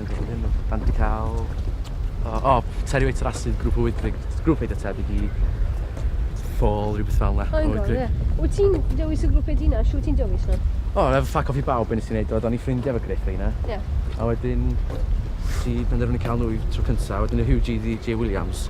Yn gwybod hyn, da ni wedi cael... O, o Terry Waits Rasid, grŵp o Wydrig, grŵp eitha tebyg i Fall, rhywbeth fel yna. O, Wydrig. Yeah. Wyt ti'n dewis y grŵp ei dina? Siw ti'n dewis nhw? O, efo ffac off i bawb beth nes i'n neud, oedd o'n i ffrindiau efo Griff reina. Ie. Yeah. A wedyn, si penderfynu cael nhw trwy cyntaf, wedyn y Hugh G. J. Williams,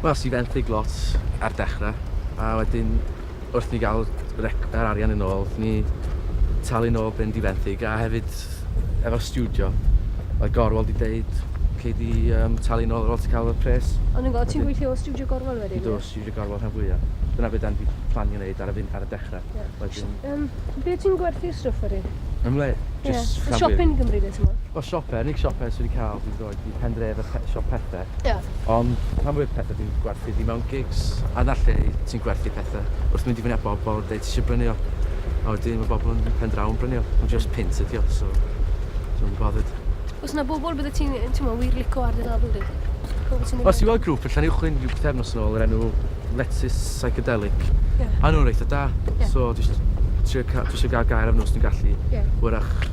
Wel, es i fenthyg lot ar dechrau, a wedyn wrth ni gael yr arian yn ôl, ni talu yn ôl byn di fenthyg, a hefyd efo studio, oedd Gorwel di deud, cei di um, talu yn ôl ar ôl ti cael y pres. Ond yn gwybod, ti'n gweithio o studio Gorwel wedyn? Do, studio Gorwel rhan fwyaf. Dyna beth dan di planio wneud ar y, ar y dechrau. Yeah. Wedyn... Um, be ti'n gwerthu stwff wedyn? Yn le? Just yeah. Siop yn Gymru, beth ti'n gwybod? O, siopau, unig siopau sydd wedi cael, dwi'n i pen dref y pet shop pethe. Ia. Ond pan fwy'r pethe dwi'n gwerthu di mewn gigs a na lle ti'n gwerthu pethe wrth mynd i fyny a bobl deud ti eisiau brynu o a wedyn mae bobl yn pen draw yn brynu o ond just pint ydi o so so yn bothered. Os na bobl bydde ti'n ti'n wir lico ar dy label di? Os ti'n weld grŵp yn Llanuwchllyn rhyw pethefnos yn ôl yr enw Lettuce Psychedelic yeah. a nhw'n reitha da yeah. so dwi eisiau trio dwi eisiau gael gair am nhw os dwi'n gallu yeah. wrach